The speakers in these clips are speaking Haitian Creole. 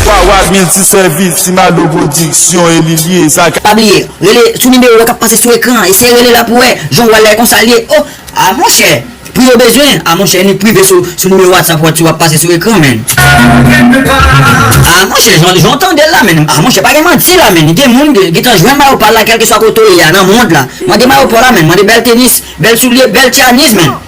Wawad milti sèvis, ti mado pwodiksyon e li liye sa. Pa bliye rele sou nimewo kap pase sou ekran an eseye rele la pou wè jan ou wè lè konsa liye oh ah monchè pri yo bezwen ah monchè ni prive sou sou nimewo whatsapp wap ti wap pase sou ekran menn ah monchè jan jan ou tandel la menn ah monchè pa gen manti la menn gen moun ki gentan jwenn mayo pal la kelkeswa kote ou ye a nan mond la mande mayo paw la menn mande bèl tenis bèl soulye bèl tyanis menn.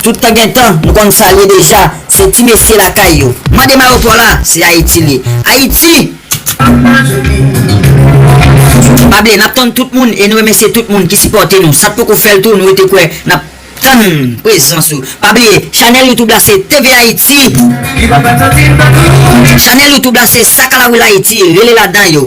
Tout tan gen tan, nou konn sa l ye deja, se ti mesye lakay yo. Mande m ayopò la, se Ayiti l ye. Ayiti! Pa bliye, n ap tann tout moun e nou remesye tout moun ki sipòte nou. Sa k poko fè l tou, nou rete kwè, n ap tann prezans ou. Pa bliye, chanèl youtube la se TV Ayiti. Chanèl youtube la se Sakalawil Ayiti, rele ladan yo.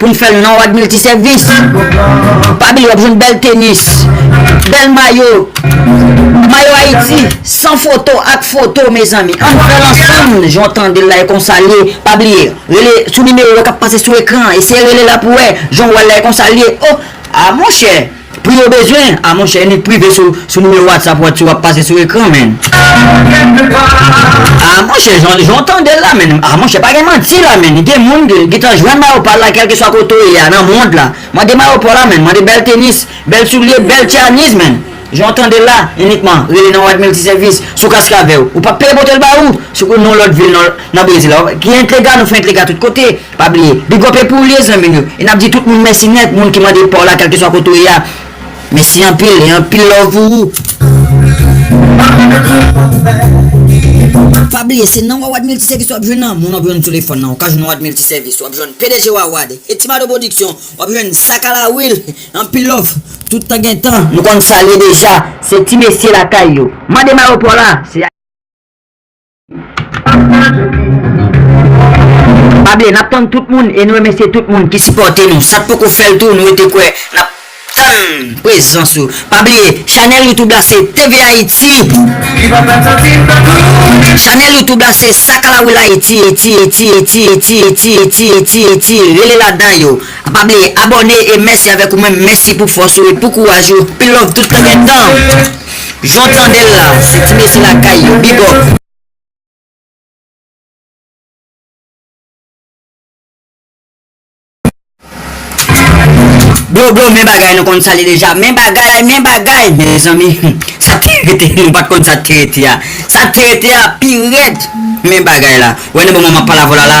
Pou n fè l nan wad miltisèvis. Pa bliye w ap jwenn bèl tenis, bèl mayo, mayo Ayiti san foto ak foto mezanmi. An n fè l ansanm jan w tande l la e konsa l ye. Pa bliye rele sou nimewo k ap pase sou ekran an. Eseye rele la pou w wè jan w wè l la e konsa l ye. O! A monchè! Pou yo bezwen, a monchè enik prive sou nimewo whatsapp ou a tu wap pase sou ekran menn. A monchè jan ou tandel la menn a monchè pa gen manti la menn gen moun ki gntan jwenn mayo pal la kelkeswa kote ou ye a nan mond la mande mayo paw la menn mande bèl tenis bèl soulye bèl tyanis menn jan ou tandel la enikman rele nan wad milti sèvis sou kaskavew ou pap peye potel ba ou sou non lòt vil nan brezil la ok entlega nou fè entlega tout kote. Pa bliye Big up epi w liye zanmim yo e nap di tout moun mèsi nèt moun ki mande paw la kèlkeswa kote w ye a mèsi anpil e anpil love pou ou. Pa bliye se nan wawad miltisevis wap jwenn lanmou wap jwenn telefòn nan ou ka jwenn wawad miltisevis wap jwenn pdg wawad e ti mado pwodiksyon wap jwenn sa ka la wil anpil love tout tan gen tan nou konn sa l ye deja se ti mesye lakay yo mande mayo paw la se Pable nap tann tout moun e nou remesye tout moun ki sipòte nou sak poko fèl tou nou rete kwè nap tann prezans ou pa bliye chanèl youtube la se tvhaiti chanèl youtube la se sakalawil ayiti rele ladan yo pa bliye abòne e mèsi avèk ou menm mèsi pou fòs ou e pou kouraj ou pi love tout. Jan w tande l la, se ti mesye lakay yo. Big up! Blo blo men bagay nou konn sa li deja men bagay men bagay mezanmi humm sa te rete nou pat konn sa te rete a sa te rete a pi rèd men bagay la wè nan moman map pale avèw la la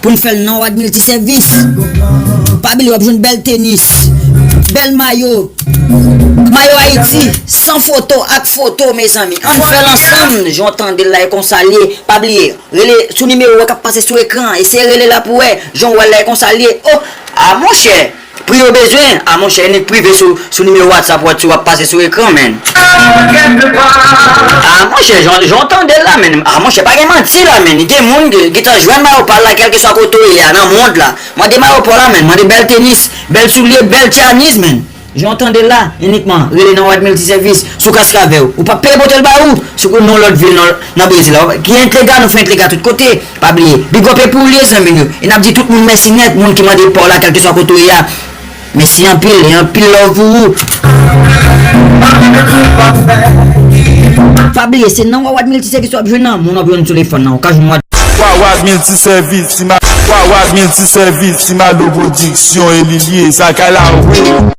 Pou n fè l nan wad miltisèvis Pa bliye w ap jwenn bèl tenis Bèl mayo Mayo Ayiti San foto ak foto mezanmi An n fè l ansanm Jan w tande l la e konsa l ye Pa bliye rele sou nimewo k ap pase sou ekran an Eseye rele la pou w wè Jan w wè l la e konsa l ye Oh a monchè Pri yo bezwen ah monchè inik prive sou nimewo whatsapp ou a tu wap pase sou ekran menn. Ah monchè jan jan w tandel la menn ah monchè pa gen manti la menn gen moun ki gentan jwenn mayo pal la kelkeswa kote w ye a nan mond la mande mayo paw la menn mande bèl tenis bèl soulye bèl tyanis menn jan w tandel la inikman rele nan wad miltisèvis sou kaskavè ou pap peye potel ba ou sou non lòt vil nan brezil la ki entlega nou fè entlega tout kote. Pa bliye big up epou liye zanmim yo e nap di tout moun mèsi nèt moun ki mande paw la kèlkeswa kote ou ye a mèsi anpil e anpil love pou ou. Pa bliye se nan wawad miltisèvis wap jwenn nan moun wap jwenn telefòn nan ou ka jwenn wad. Wawad miltisèvis ti ma wawad miltisèvis ti malo pwodiksyon e li liye sa kay la wi.